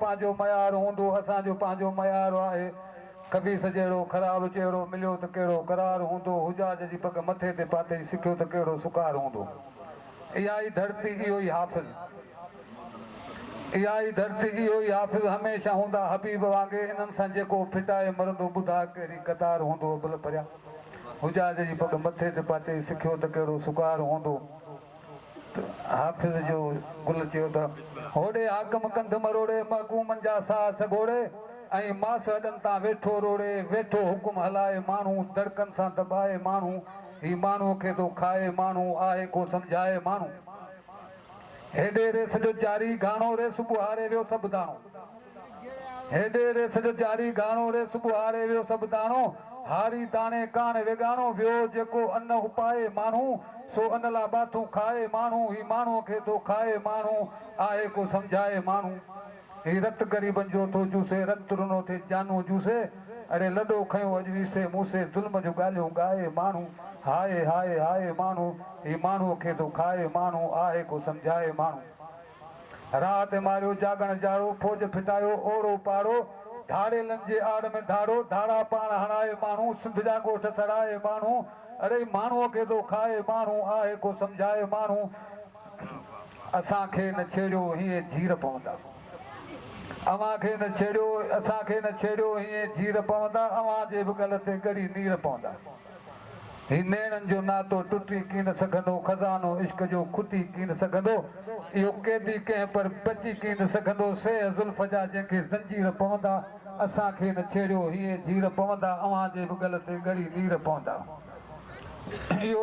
پنهنجو معيار هوندو اسان جو پنهنجو معيار آهي خبيث جهڙو خراب چهرو مليو ته ڪهڙو قرار هوندو حجاج جي پڳ مٿي تي پاتئي سکيو ته ڪهڙو سڪار هوندو اها ئي ڌرتي اهو ئي حافظ اها ئي ڌرتي اهو ئي حافظ هميشه هوندا حبيب وانگي انهن سان جيڪو ڦٽائي مرندو ٻڌاء ڪهڙي قطار هوندو ابل پريا حجاج جي پڳ مٿي تي پاتئي سکيو ته ڪهڙو سڪار هوندو. حافظ جو گل چيو ته. هوڙي حاڪم ڪنڌ مروڙي محڪومن جا ساهه سگهوڙي ۽ ماس هڏن تان ويٺو روڙي ويٺو حڪم هلائي ماڻهو دڙڪن سان دٻائي ماڻهو هي ماڻهوء کي ٿو کائي ماڻهو آهي ڪو سمجهائي ماڻهو هيڏي ريس جو جاري گهاڻو ريس ٻهاري ويو سڀ داڻو. هيڏي ريس جو جاري گهاڻو ريس ٻهاري ويو سڀ داڻو هاري داڻي ڪاڻ ويڳاڻو ويو جيڪو ان اپائي ماڻهو سو ان لا ٻاٿون کائي ماڻهو هي ماڻهو کي ٿو کائي ماڻهو آهي ڪو سمجهائي ماڻهو هي رت غريبن جو ٿو چوسي رت رنو ٿي جانون جوسي اڙي لڏو کنيو اڄ عيسي موسي ظلم جو ڳالهيون ڳائي ماڻهو هائي هائي هائي ماڻهو هي ماڻهو کي ٿو کائي ماڻهو آهي ڪو سمجهائي ماڻهو. رات ماريو جاڳڻ جاڙو، فوج ڦٽايو اوڙو پاڙو، ڌاڙيلن جي آڙ ۾ ڌاڙو، ڌاڙا پاڻ هڻائي ماڻهو، سنڌ جا ڳوٺ سڙائي ماڻهو، اڙي ماڻهوء کي ٿو کائي ماڻهو، آهي ڪو سمجهائي ماڻهو، اسان کي نه ڇيڙيو هينئن جير پوندا، اوهان کي نه ڇيڙيو، اسان کي نه ڇيڙيو هينئن جير پوندا، اوهان جي به ڳل تي ڳڙي نير پوندا. هي نيڻن جو ناتو ٽٽي ڪين سگهندو، خزانو عشق جو کٽي ڪين سگهندو، اهو قيدي ڪنهن پر بچي ڪين سگهندو، سيهه زلف جا جنهن کي زنجير پوندا، اسان کي نه ڇيڙيو هيئن جير پوندا، اوهان جي به ڳل تي ڳڙي نير پوندا، اهو